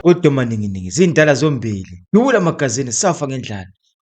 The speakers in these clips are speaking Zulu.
kodwa maninginingi zindala zombili. Yula magazini safa ngendlala.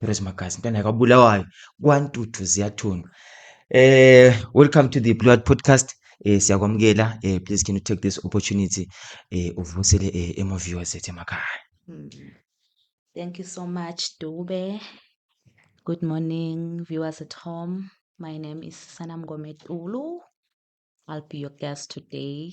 Rose Magasi mntwana ka Bulawayo kwantuthu ziyathunga eh welcome to the Blue Heart podcast eh siyakwamukela eh please can you take this opportunity eh uvusele eh emo viewers ethe emakhaya hmm. Thank you so much Dube Good morning viewers at home my name is Sanam Gometulu I'll be your guest today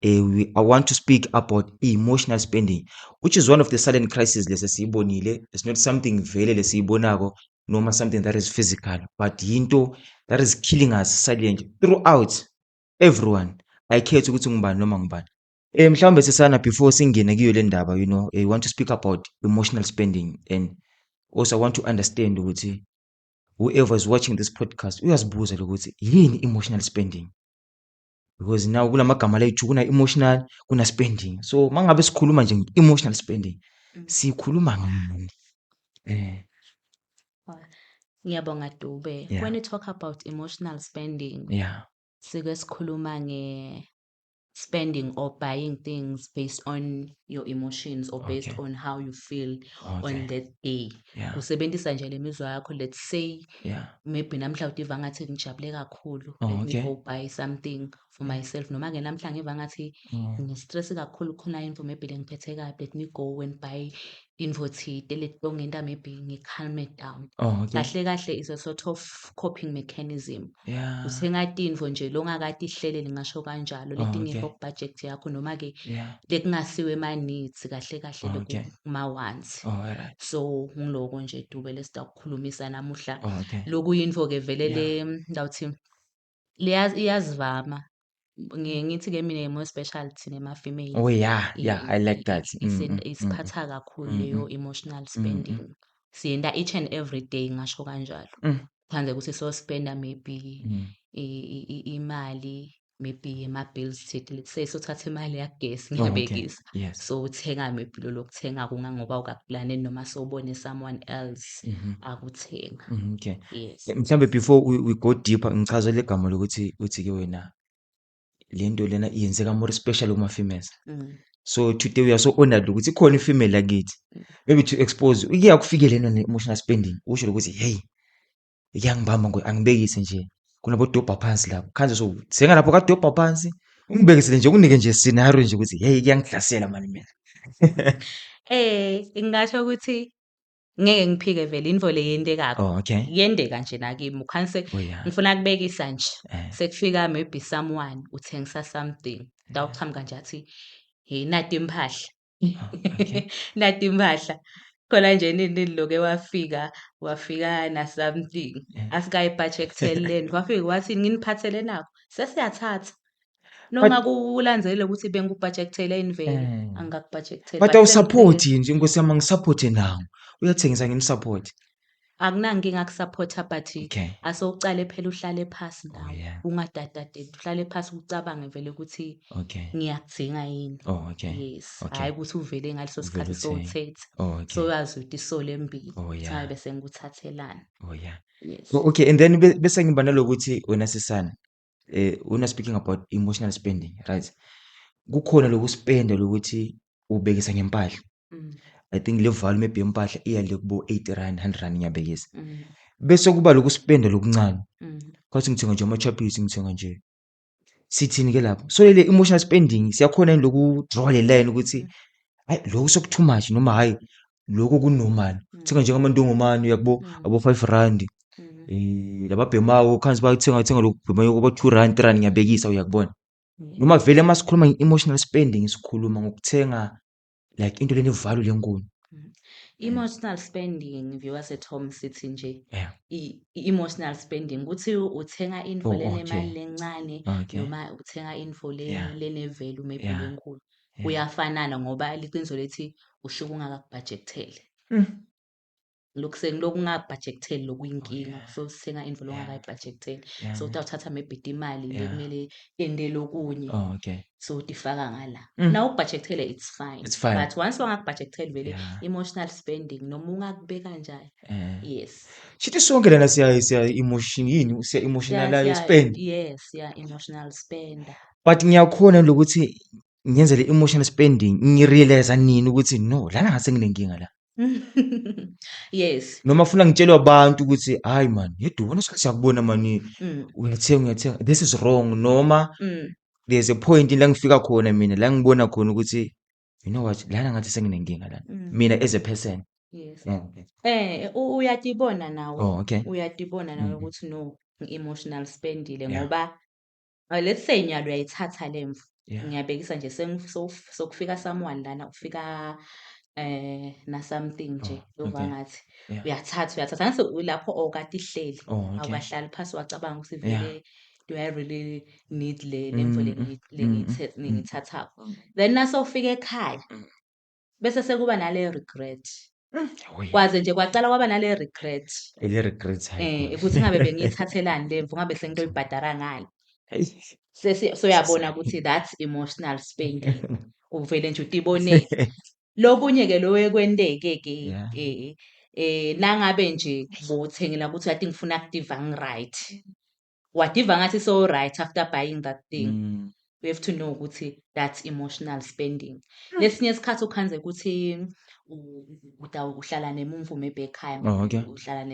eh, we, I want to speak about emotional spending which is one of the silent crisis lesi siyibonile it's not something vele lesiyibonako noma something that is physical but yinto that is killing us silently throughout everyone ayikhethi ukuthi ngubani noma ngubani Eh mhlawumbe sisana before singene kuyo le ndaba you know eh, we want to speak about emotional spending and also I want to understand ukuthi whoever is watching this podcast uyazibuza lokuthi yini emotional spending because now kula magama lethu kuna-emotional kuna-spending so uma ngabe sikhuluma nje nge-emotional spending mm. sikhuluma ngani um ngiyabonga dube yeah. when you talk about emotional spending yeah. sike sikhuluma nge spending or buying things based on your emotions or based okay. on how you feel okay. on that day yeah. usebenzisa nje le mizwa yakho let's say yeah maybe namhla udiva ngathi ngijabule kakhulu oh, let okay. me go buy something for myself noma ke namhla ngiva ngathi mm. ngistress kakhulu khona info maybe lengiphethe kabi let me go and buy info thide letongenta maybe ngi-calme down oh, okay. kahle kahle is a sort of coping mechanism yeah. usengati info nje longakati ihleleli ngasho kanjalo oh, letingekho okay. kubudget yakho noma-ke yeah. lekungasiwe ema-needs kahle kahle oh, okay. ma-wants oh, right. so ngiloko nje dube lesitako khulumisa namuhla oh, okay. lokuyinfo ke vele le ndawuthi iyazivama ngiye ngithi ke mina more special thina ma female oh yeah yeah i like that mm, mm, mm. isiphatha kakhulu leyo emotional spending siyenda each and every day ngasho kanjalo kuphande ukuthi so spenda maybe imali maybe ama-bills thidi let's sothatha imali yagesi oh, ngiyabekisa okay. yes. so uthenga maybe lo lokuthenga kungangoba ukakulane noma sobone someone else mm -hmm. akuthenga mm -hmm, okay. yes. Eh, mhlawumbe before we, we go deeper ngichaze le gama lokuthi uthi ke wena le nto lena yenzeka more special uma females mm. so today we are so honored ukuthi khona ifemale lakithi mm. maybe to expose uye akufikelena ne-emotional spending usho ukuthi hey Iyangibamba ngoy angibekise nje. Kunabodobha phansi lapho. Khanje so senga lapho kadobha phansi. Ungibekisele nje unike nje scenario nje ukuthi hey kuyangihlasela mani mina. Eh ngingasho ukuthi ngeke ngiphike vele into le yentekayo. Oh okay. Yendeka nje nakimi ukhanse oh, ngifuna kubekisa nje. Eh. Sekufika maybe someone uthengisa something. Dawuqhamuka nje athi hey nati impahla. nati impahla khona nje nini loke wafika wafika na something asikayibhatshe ekutheleni wafika wathi nginiphathele nakho sesiyathatha noma kulandzele ukuthi bengikubhajektele yini vele eh. angikakubhajektele but awusaphothi nje nkosi yami angisaphothi nawo uyathengisa ngimsaphothi akunankinga kusapotha but Okay. ase ucale phela uhlale phasi Oh nawe yeah. ungadadadedi uhlale phasi ucabange vele ukuthi Okay. ngiyakudinga yini Oh okay. yes Okay. hhayi ukuthi uvele ngaleso Uvele sikhathi uthenge. sowuthethe Oh okay. soyazi ukuthi isole embili Oh yeah. sabe sengikuthathelana Oh yeah. yes So okay and then be- bese ngiba nalokuthi wena sisana eh when you're speaking about emotional spending right kukhona lokuspenda lokuthi ubekisa ngempahla mm. i think le value maybe yempahla iya le kubo 80 rand 100 rand ngiyabekisa mm. bese kuba lokuspenda lokuncane mm. kwathi ngithenga nje ama-chappies ngithenga nje sithini-ke lapho so lele emotional spending siyakhona yini loku-draw le line ukuthi hayi lokhu soku-too much noma hhayi lokho kunormal mm. thenga njengamantongomane uyakubo mm. abo-five rand mm-hmm. eh, lababhemako khansi bathenga thenga lokhu bhemayo kwaba-two rand three rand ngiyabekisa uyakubona noma vele uma sikhuluma nge-emotional spending sikhuluma ngokuthenga like into leni value lenkulu mm-hmm. Emotional spending viewers at home sithi nje yeah. emotional spending ukuthi uthenga info oh, lenemali okay. lencane okay. noma uthenga info yeah. lenevelu maybe yeah. lenkulu kuyafanana ngoba liqiniso lethi usuke ungakakubhajektheli mm. lokhu sekulokhu ungabhajektheli lokuyinkinga oh, so sithenga into longakayibhajektheli so uthi awuthatha mebhidi imali le kumele endele okunye oh, so utifaka ngala mm. na ukubhajekthele it's fine but once wangakubhajektheli vele emotional spending noma ungakubeka njani eh. yes shithi sonke lana siya siya emotion yini siya emotionalize spend yes siya emotional spender But ngiyakhona lokuthi ngenze le emotional spending ngirealize nini ukuthi no lana ngase nginenkinga la. Yes. Noma funa ngitshelwe abantu ukuthi hayi man yedwa ubona isikhathi siyakubona mani Mm. uyathenga uyathenga this is wrong noma Mm. there's a point la ngifika khona mina la ngibona khona ukuthi you know what lana ngathi senginenkinga lana Mm. mina as a person. Yes. Yeah, okay. Eh u- uyatibona nawe. Oh okay. Uyatibona nawe Mhm. ukuthi no ngi-emotional spendile Yeah. ngoba Uh, let's say nyalo uyayithatha le mvu yeah. ngiyabekisa nje sokufika someone lana kufika eh na something nje oh, yova okay. ngathi yeah. uyathatha uyathatha ngase lapho okade ihleli oh, okay. awukahlali phansi wacabanga ukuthi vele yeah. do I really need le lemfo mm, mm, mm, lengiyithathako then nasofika ekhaya bese sekuba nale regret Hoi. kwaze nje kwacala kwaba nale regret Ile regrets um hayi. ukuthi ngabe bengiyithathelani le mvu ngabe sengitoyibhadara ngani Hayi. Sesi- soyabona ukuthi that's emotional spending uvele nje utibonele lokunye-ke lowekwenteke-ke Yeah. eh eh nangabe nje bothengela ukuthi ati ngifuna active angi-right wadiva ngathi so right after buying that thing mm. we have to know ukuthi that's emotional spending hmm. lesinye isikhathi ukhanze ukuthi uhlala nemumvume ebekhaya oh, okay. uhlala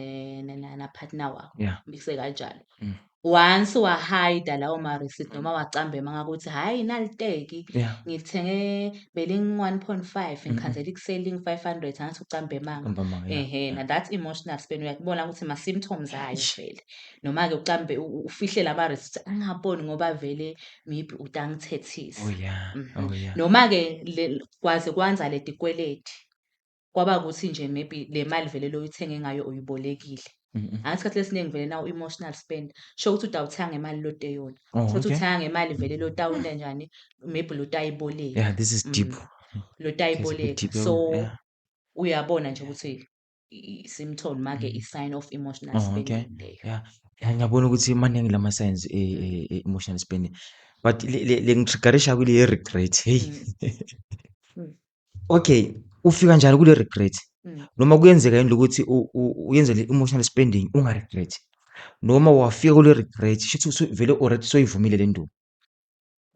napartner wakho yeah. mikise kanjalo mm. once wahayida lawo ma-receipt mm. noma wacambema ngakuthi hhayi naliteki Yeah. ngilithenge beling-one point five mm-hmm. ngikhanzela ikuseling five hundred angathi ucambemanga Ngambamanga, yeah, ehe yeah. na that's emotional spend uyakubona ukuthi ma-symptoms ayo vele noma-ke ucambe ufihle lama receipts angaboni ngoba vele maybe uthi angithethise oh yeah mm -hmm. oh yeah noma-ke kwaze kwanza le tikweleti kwaba ukuthi nje maybe le mali vele loyithenge ngayo uyibolekile angathi isikhathi lesiningi vele nawo emotional spend sho ukuthi utawuthenga ngemali lote yona oh, sho ukuthi uthenga ngemali vele lotawule njani maybe lotayiboleka yeah this is deep mm. lotayiboleka so uyabona nje ukuthi i-symptom make mm. i-sign of emotional oh, spending okay. leyo yeah. yeah, ngiyabona ukuthi maningi lama signs e, mm. e, e, emotional spending but lengitriggerisha kule ye-regret heyi mm. okay ufika njalo kule regret noma kuyenzeka yini lokuthi uyenze le emotional spending ungaregret noma wafika kule regret shuthi vele already soyivumile le ndubo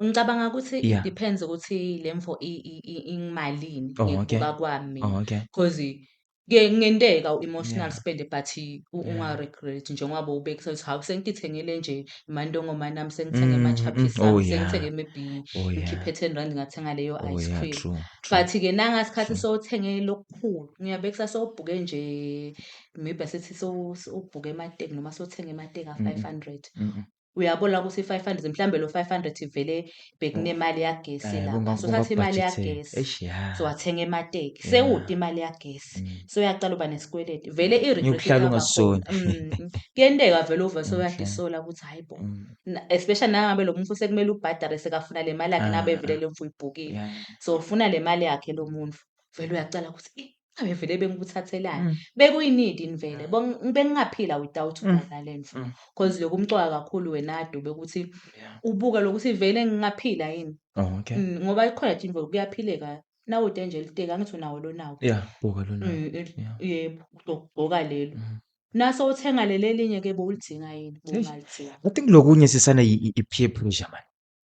Ngicabanga ukuthi yeah. it depends ukuthi le mfo ingimalini oh, ngibuka okay. kwami oh, okay. cause kuyenteka u-emotional yeah. spend but ungaregret yeah. njengoba ubekisa ukuthi hawu sengithengele nje imantongoma nami sengithenge mm, ama-chapisa mm, oh, yeah. sengithenge maybe oh, yeah. ngikhiphe ten rand ngathenga leyo oh, ice cream yeah, true, true. but-ke nanga sikhathi sowuthengele lokukhulu ngiyabekisa sowubhuke nje maybe asithi ubhuke emateki noma sothenge emateki a-five hundred mm -mm. uyabona ukuthi i-five hundred mhlawumbe lo five hundred ivele bekunemali yagesi Eh, la kunga- so thatha imali kungabhajitheka. yagesi Eish, ya. so wathenga emateki Yeah. sewude imali yagesi Mm. so uyaqala uba nesikweleti vele i-regret Ngiyokuhlala iyaba ungasisoli. khona. Mm. kuyenteka vele uvele sewuyadla Okay. isola ukuthi hayi bo Mm, Na- especially nangabe lo muntu sekumele ubhadare sekafuna le mali yakhe Ah, nabe ah. vele le mfu ibhukile Yeah. so ufuna le mali yakhe lo muntu vele uyacala ukuthi "Eh, Ave vele bengikuthathelani. Mm. Bekuyinid in vele. Bo bengingaphila without Mm. kona le mfo. Mm. Cause lokhu umcoka kakhulu wena Dube ukuthi Yeah. ubuka lokuthi vele ngingaphila yini. Oh, okay. Mm, ngoba ikhona nje imvelo kuyaphileka. Nawo denje liteki angithi unawo lonawo. Yeah, buka lona. Mm, eh, Yeah. yebo ugqoka lelo. Mm. Naso uthenga leli elinye ke bowulidinga yini? Eish. Bowungalidinga. I think lokunye sisana i- i- i-peer pressure man.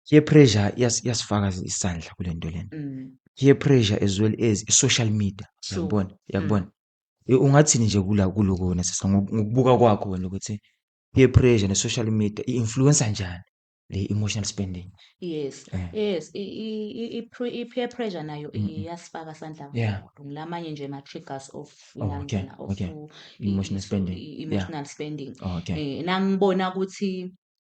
peer pressure iyas- iyasifaka isandla kule nto lena Mm. peer pressure as well as i-social media Sure. uyakubona uyakubona Eh, ungathini nje kula kuloko wena sisa ngoku- ngokubuka kwakho wena ukuthi peer pressure ne-social media i-influensa njani le emotional spending yes Eh. yes i- i- i- i- pre- i-peer pressure nayo Mm, mm. iyasifaka sandla Yeah. kakhulu ngilamanye nje ma-triggers of Oh, okay, uyangena, of okay. u- i- Emotional i- spending, i- yeah. emotional spending okay Eh, nangibona ukuthi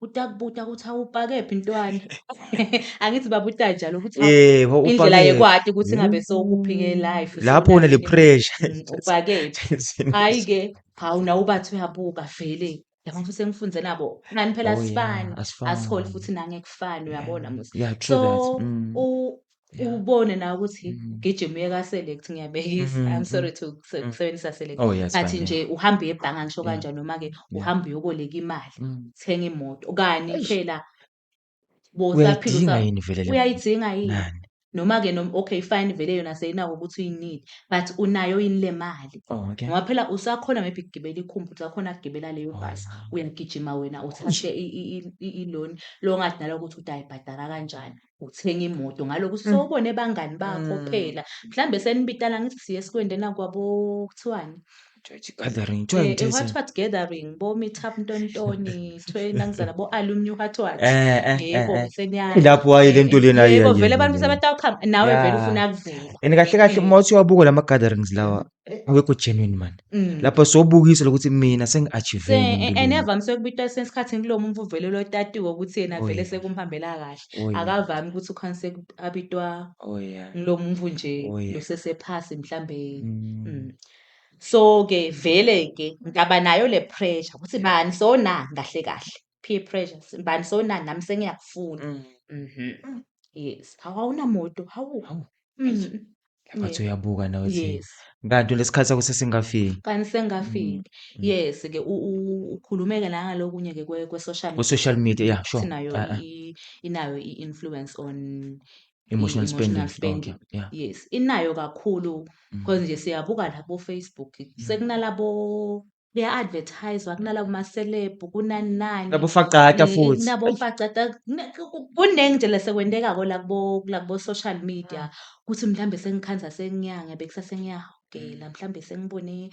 Utakubuta ukuthi awupakephi ntwana. Angithi baba utanjalo ukuthi awu Yebo indlela upakephi. yekwati ukuthi ngabe sowukuphike life. Lapho une le sewunakile. pressure. Mm, upakephi. Hhayi ke, hawu nawe ubathi uyabuka vele. Yabona futhi sengifunze nabo. Nani phela Oh, yeah, asifani. asifani. Asiholi futhi nangekufani uyabona musa. Yeah, true that. So Mm. u Yeah. ubone nawe ukuthi Mm. ugijima uye ka-select ngiyabekisa Mhm, i'm sorry to kuse- Mm. kusebenzisa select Oh yes. athi fine, nje uhambe uye ebhanga ngisho Yeah. kanjani noma-ke Yeah. uhambe uyoboleka imali yeah. Mm. uthenga imoto kani Eish. phela bosaphila Uyayidinga usa- yini vele le? uyayidinga yini Nani? noma-ke nom- okay fine vele yona seyinako ukuthi uyinile but unayo yini le mali Oh, okay. ngoba phela usakhona maybe kugibela ikhumbi usakhona kugibela leyo Oh, bhasi yeah. uyagijima wena uthathe i- i- i- i- i-loan lo ngathi nalo ukuthi uthi ayibhadala kanjani uthenga imoto ngaloku mm. sowubone bangani bakho mm. phela mhlambe senibitala ngithi siye sikwendena kwabo kuthiwani Church gathering, joint eh, eh, what what gathering, bo meet up ntontoni, thwe nangizana bo alumni what what. Eh eh. Yebo eh, eh. senyana. Ilapho waye lento lena yena. Yebo vele abantu sebetawukhamba nawe vele ufuna kuvela. And kahle kahle uma uthi wabuka lama gatherings lawa awekho genuine mani Mm. lapha sobukisa lokuthi mina Se- sengi-achieve a- and evamise ukubitwa esinye isikhathi kulo muntu uvelelwe otatiwe ukuthi yena Oh, vele yeah. sekumhambela kahle Oh, yeah. akavami ukuthi ukhonse abitwa Oh, yeah. ngilo muntu nje Oh, yeah. losesephasi mhlambe Mm. Mm. so ke vele ke ngaba nayo le pressure ukuthi bani so na kahle kahle peer pressures mbani sonani nami sengiyakufuna Mm. mhm Mm. yes hawu awunamoto hawu Hawu. Mhm. Laphathi uyabuka nawe uthi yes kanti lesikhathi sakho sesingafiki. kanti sengafile Mm. yes ke u- u- ukhulumeke nangalokunye ke kwe kwe social Ku social media yeah sure. sinayo Ah, ah. i- inayo i influence on Emotional spending. emotional spending. Okay. Yeah. yes inayo kakhulu Mm. because nje siyabuka labo Facebook Mm. sekunalabo kuya advertiswa kunala kuma celeb kunani nani Labo faqata eh, futhi. kunabo mfacada kune- ku- ku- kuningi nje lesekwenteka ko lakubo lakubo social media ukuthi mhlambe sengikhanza senginyanga bekisa sengiyahogela mhlambe sengibone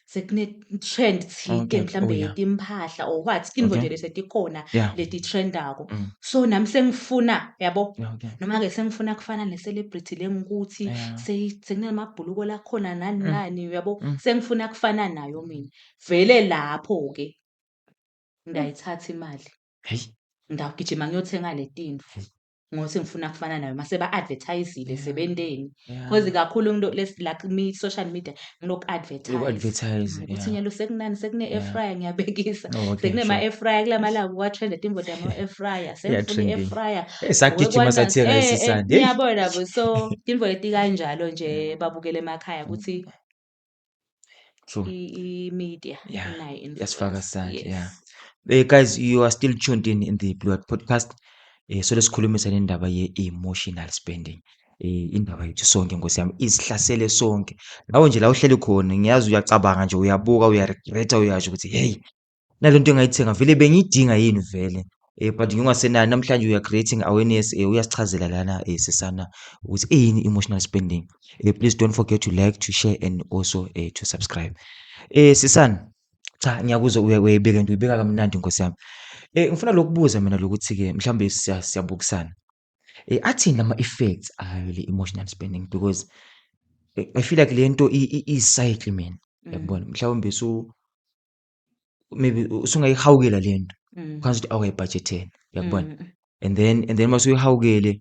sekune trend thike Okay, mhlambe oh, yeah. yetimpahla or what intfo Okay. nje lesetikhona Yeah. letitrendako Mm. so nami sengifuna yabo okay. noma-ke sengifuna kufana ne-celebrity le ngikuthi yeah. sekunamabhuluko lakhona nani mm. nani uyabo mm. sengifuna kufana nayo mina vele lapho-ke ngayithatha imali ngagijima ngiyothenga le tinfu ngothi ngifuna kufana nayo mase ba-advertisile sebenteni Yeah. Cause kakhulu ngino les like me social media nginoku advertise. Uku advertise. Ukuthi yeah. nyalo sekunani sekune air Yeah. fryer ngiyabekisa. Oh, okay, Sekune ma sure. air fryer kulamala kuwa trend imboda ma air fryer. Yeah, Sengifuna trending. air fryer. Eh, sagijima Ngokwana- sathi eh, eh, racist and hey. Niyabona bo so imvoyeti kanjalo nje babukele emakhaya ukuthi True. i- i-media Yeah. inayo influence. yasifaka sandla Yes. yeah Eh, guys you are still tuned in in the blue Hat podcast eh solo sikhulumisa nendaba ye-emotional spending eh indaba yethu sonke nkosi yami isihlasele sonke nawe nje la uhleli khona ngiyazi uyacabanga nje uyabuka uyaregreta uyasho ukuthi hey nalento engayithenga vele bengiyidinga yini vele eh but ngingasenayo namhlanje we are creating awareness eh uyasichazela lana eh sisana ukuthi eyini emotional spending eh please don't forget to like to share and also eh to subscribe eh sisana cha ngiyakuzwa uyayibeka nto uyibeka kamnandi nkosi yami eh ngifuna lokubuza mina lokuthi ke mhlawumbe siyabukisana eh athini ama effects ayo le emotional spending because eh, i feel like lento i cycle mina mm. yabona mhlawumbe so maybe usungayihawukela le nto mm. kwanza ukuthi awayibhajetheni uyakubona mm. and then and then mase uyihawukele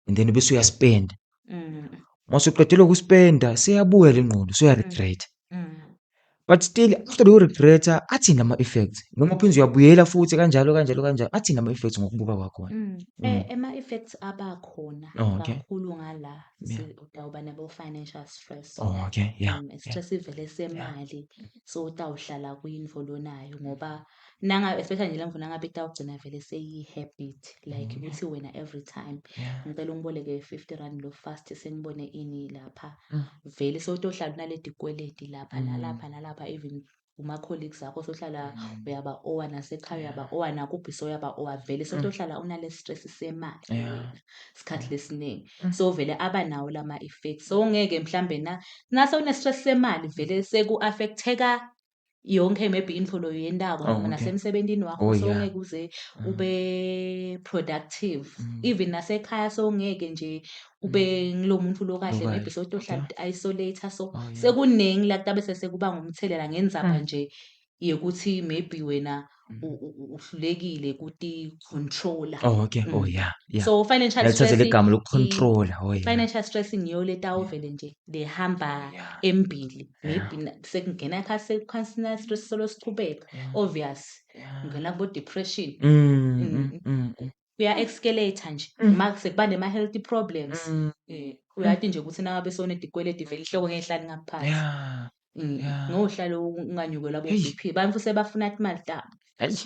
and then bese uyaspenda mm. mase uqedela ukuspenda seyabuya le ngqondo soyaregreta but still after leyo regreta athini ama-effects noma uphinde uyabuyela futhi kanjalo kanjalo kanjalo athini ama-effects ngokubuka kwakhona mm. mm. ama-effects eh, abakhona oh, kakhulu ngala udawuba nabo-financial stress oh, okay. yeah. um, stress ivele semali so utawuhlala kwimvo lonayo ngoba nanga especially nje lemvo nangabe itawugcina vele seyi-habit like mm. ukuthi wena every time ngicela ungiboleke fifty rand lo fast sengibone ini lapha mm. vele sewutohlala unaledi kweledi lapha mm. nalapha nalapha even uma-colleagues akho sohlala mm. uyaba owa nasekhaya uyaba owa nakubhi soyaba owa vele sotohlala mm. unale stress semali sikhathi lesiningi sovele aba nawo lama effects so ngeke mhlambe na nase une stress semali vele seku affecteka yonke maybe indlolo yendako oh, okay. nasemsebenzini wakho oh, so yeah. ngeke uze mm. ube productive mm. even nasekhaya so ngeke nje ube mm. ngilomuntu lo kahle maybe so tohlala okay. isolator so oh, yeah. sekuningi la kutabe sesekuba ngumthelela ngenzaba mm. nje yokuthi maybe wena u- Mm. u- u- uhlulekile kuti controller oh okay oh Mm. yeah yeah so financial yalithathela stress igama lokucontrola oh yeah financial stress ngiyo letawuvele nje lehamba yeah embili Yeah. maybe na- sekungena kha sekukhansina stress solo sichubeka yeah obvious yeah ungena kubo depression mm, Mm, mm, mm, mm. kuya escalator nje mm. uma sekuba nema healthy problems mm. eh uyati nje ukuthi nawe besone dikweledi vele ihloko ngehlali ngaphansi yeah mm. yeah ngohlalo unganyukelwa bo BP abantu sebafuna imali tabo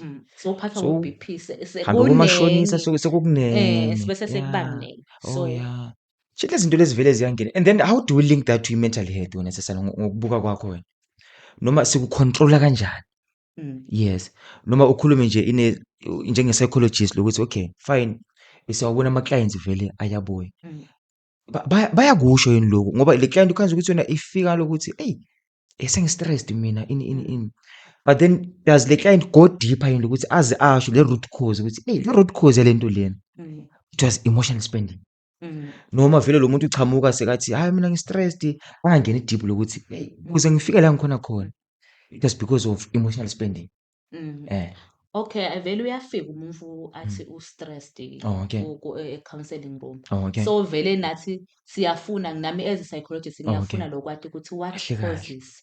mm. sophathwa so, ngu-BP sekumashonisa sekukuningi eh sibese sekubaningi oh, so oh, yeah shitla izinto lezivele ziyangena and then how do we link that to mental health wena sesana ngokubuka kwakho wena noma sikucontrola kanjani Mm. Yes. Noma ukhulume nje ine njenge psychologist lokuthi okay fine siyawabona ama clients vele ayabuya. Mm. Ba- baya- Bayakusho yini lokho ngoba le client ukhanza ukuthi yona ifika lokuthi hey esengi stressed mina ini ini ini. But then does le client go deeper yini ukuthi aze asho le root cause ukuthi hey le root cause yalento lena Mm. it was emotional spending. Mm. Noma vele lo muntu uchamuka sekathi, hhayi mina ngi-stressed, angangeni deep lokuthi hey, ukuze ngifike la ngikhona khona. It was because of emotional spending. Mm. Eh. Okay, vele uyafika umuntu athi mm. u-stressed Oh, okay. e-counselling room. Oh, okay. So vele nathi siyafuna nami as a psychologist oh, ngiyafuna lo kwati ukuthi what Kahle kahle. causes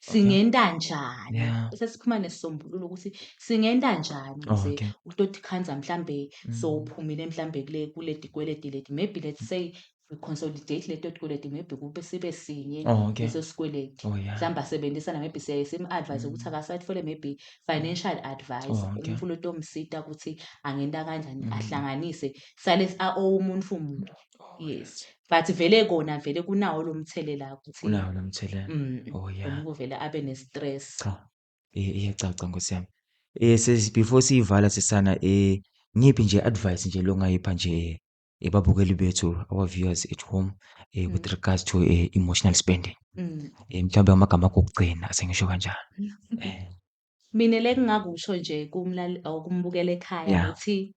singenta njani yeah. sesiphuma nesisombululo ukuthi singenta njani ukuze oh, okay. utoti khanza mhlambe mm. so uphumile mhlambe kule kule dikweledi ledi maybe let's say we consolidate leto tikweleti maybe kube sibe sinye oh, okay. leso sikweleti oh, yeah. mhlawumbe asebenzisana maybe siyaye simu-advise mm. ukuthi akasatfole maybe financial advice oh, okay. umfula otomsita ukuthi angenta kanjani mm. ahlanganise sale aowe umuntu fumuntu Oh, yes but vele kona vele kunawo lo mthelela ukuthi unawo lo mthelela mm, oh yeah umuntu vele abe ne-stress cha i- iyacaca nkosi yami eh sis before siyivala sisana eh ngiphi nje advice nje longayipha nje eh, ebabukeli bethu our viewers at home eh with Mm. regards to eh, emotional spending mm. eh mhlawumbe amagama akho okugcina asengisho kanjalo eh mina le kungakusho nje kumlali or kumbukela ekhaya Yeah. ukuthi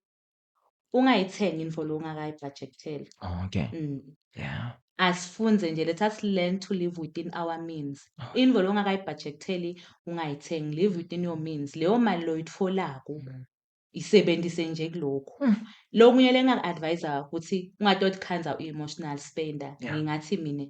ungayithengi info lo ungakayi budgeteli okay mm. yeah asifunze nje let us learn to live within our means oh. info lo ungakayi budgeteli ungayithengi live within your means leyo mali lo itfolako mm. isebenzise nje kulokho mm. lokunye lengaku-advisa ukuthi ungatothi khanza uyi-emotional spender yeah. ngingathi mina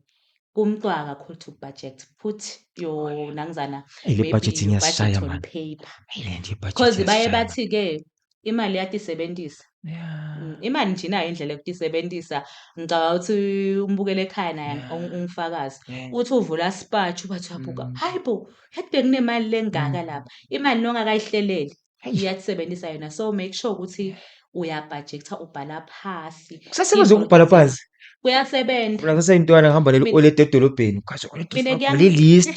kumntwaka kakhulu to budget put your nangizana le budget ngiyasishaya manje paper because baye bathi ke imali iyatisebentisa yeah. Mm, imali nje inayo indlela yokutisebentisa ngicabanga ukuthi umbukela ekhaya naye yeah. ungifakazi yeah. uthi uvula spatch ubathi uyabuka mm. hayi bo yathi bekunemali lengaka mm. lapha imali nongakayihleleli iyatisebentisa yona so make sure ukuthi uyabhajektha ubhala phasi kusasebenzisa ukubhala phansi kuyasebenza kusaseyintwana ngihamba leli olede edolobheni ugaze olede list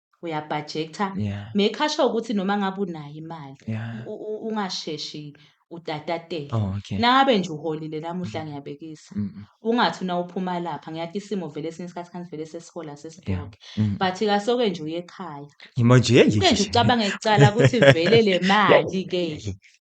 uyabhajektha yeah. mekhasha ukuthi noma ngabe unayo imali yeah. ungasheshi utatatela oh, okay. nangabe nje uholile namuhla mm. ngiyabekisa mm -mm. ungathi una uphuma lapha ngiyathi isimo vele esinye isikhathi kanti vele sesihola sesibhoke yeah. mm -mm. but kasoke nje uye ekhaya ngimo nje nje ucabange icala ukuthi vele le mali ke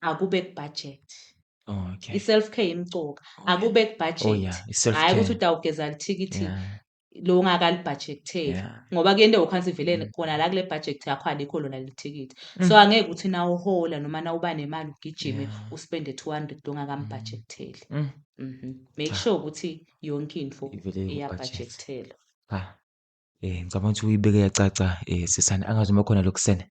akube kubudget okay. i-self care imcoka okay. akube kubudget oh, yeah. hhayi ukuthi utawugeza lithikithi yeah lo ngakalibhajektheli yeah. ngoba kuyento yokhansi ivelele mm. khona la kule budget yakho alikho lona lithikithi mm. so angeke ukuthi na uhola noma na uba nemali ugijime yeah. uspende 200 ongakambhajektheli mm. mm. mm -hmm. make ah. sure ukuthi yonke into iyabhajekthela ah. eh ngicabanga ukuthi uyibeke yacaca eh sisane angazi uma khona lokusene